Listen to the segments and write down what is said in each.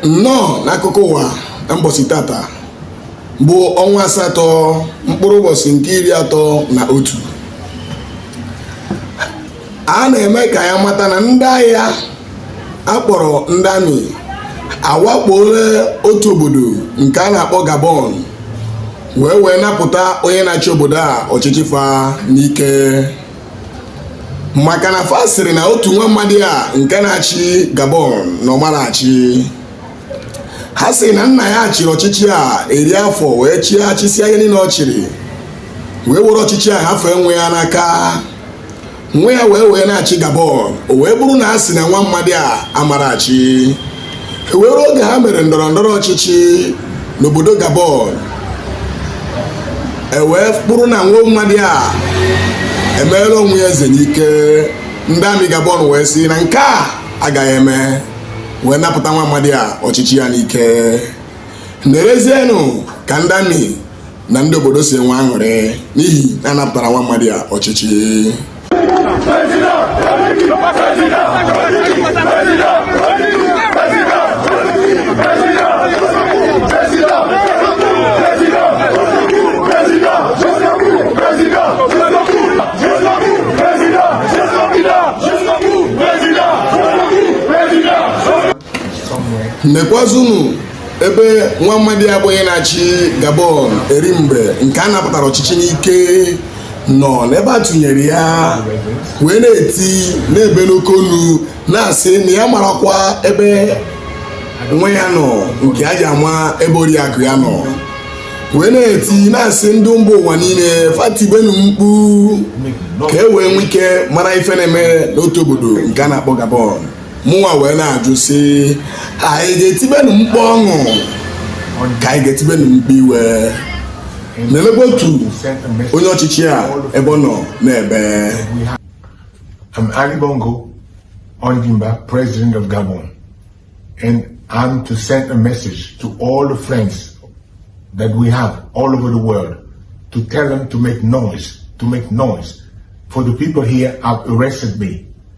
nnọọ n'akụkọ ụwa na mbọsị tata bụ ọnwa asatọ mkpụrụ ụbọchị nke iri atọ na otu a na-eme ka ya mata na ndị agha a kpọrọ ndị army awakpoola otu obodo nke a na-akpọ Gabon wee wee napụta onye na-achị obodo a ọchịchị fa n'ike maka na fa sịrị na otu nwa mmadụ a nke na-achị Gabon na ọ mara achị ha sị na nna ya chịrị ọchịchị a eri afọ wee chịa chịsịa ihe niile ọ chịrị wee were ọchịchị a hafee nwa ya n'aka nwa ya wee wee na-achị Gabon o wee bụrụ na a sị na nwa mmadụ a amara achị e wee ruo oge ha mere ndọrọ ndọrọ ọchịchị n'obodo Gabon e wee bụrụ na nwa mmadụ a emeela onwe ya eze n'ike ndị army Gabon wee sị na nke a agaghị eme wee napụta nwa mmadụ a ọchịchị ya n'ike nerezienụ ka ndị army na ndị obodo si enwe aṅụrị n'ihi na a napụtara nwa mmadụ a ọchịchị nekwazunu ebe nwa mmadụ a bụ onye na-achị Gabon eri mgbe nke a napụtara ọchịchị n'ike nọ n'ebe a tụnyere ya wee na-eti na-ebe n'oke olu na-asị na ya amarakwa ebe nwa ya nọ nke ya ji ama ebe oriakụ ya nọ wee na-eti na-asị ndị mba ụwa niile fa tibenu mkpu ka e wee nwee ike mara ife na-eme n'otu obodo nke a na-akpọ Gabon mụnwa wee na-ajụ sị anyị ga-etibenu mkpu ọṅụ ka anyị ga-etibenu mkpu iwe nenebe otu onye ọchịchị a ebe ọ nọ na-ebe I'm Ali Bongo, Ondimba, President of Gabon, and I'm to send a message to all the friends that we have all over the world to tell them to make noise, to make noise. For the people here have arrested me.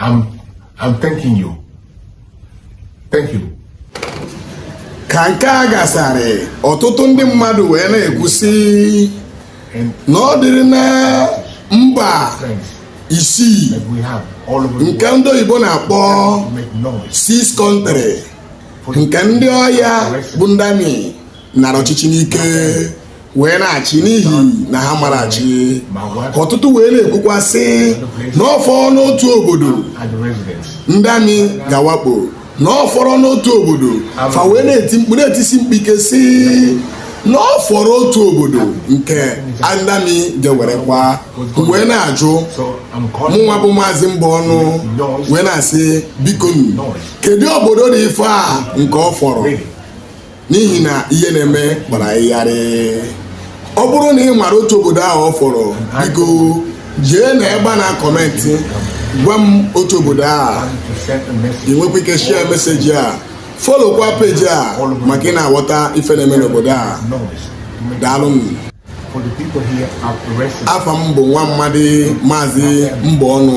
I'm, I'm thanking you. Thank you. ka nke a gasarị ọtụtụ ndị mmadụ wee na-ekwu sị na ọ dịrị na mba isii nke ndị oyibo na-akpọ six country nke ndị agha bụ ndị army nara ọchịchị n'ike wee na-achị n'ihi na ha mara achị ọtụtụ wee na-ekwukwa sị na ọ fọrọ n'otu obodo ndị amị ga-awakpo na ọ fọrọ n'otu obodo fa wee na-eti mkpu na-etisi mkpu ike sị na ọ fọrọ otu obodo nke ndị amị ga-ewerekwa wee na-ajụ mụnwa bụ maazị mba ọnụ wee na-asị biko kedu obodo dị ife a nke ọ fọrọ n'ihi na ihe na-eme gbara ịgharị ọ bụrụ na ị mara otu obodo ahụ ọ fọrọ biko jee na ebe a na-akọmentị gwa m otu obodo a ị nwekwa ike shia meseji a folokwa peji a maka ị na-aghọta ife na-eme n'obodo a daalụnụ afa m bụ nwa mmadụ maazị mba ọnụ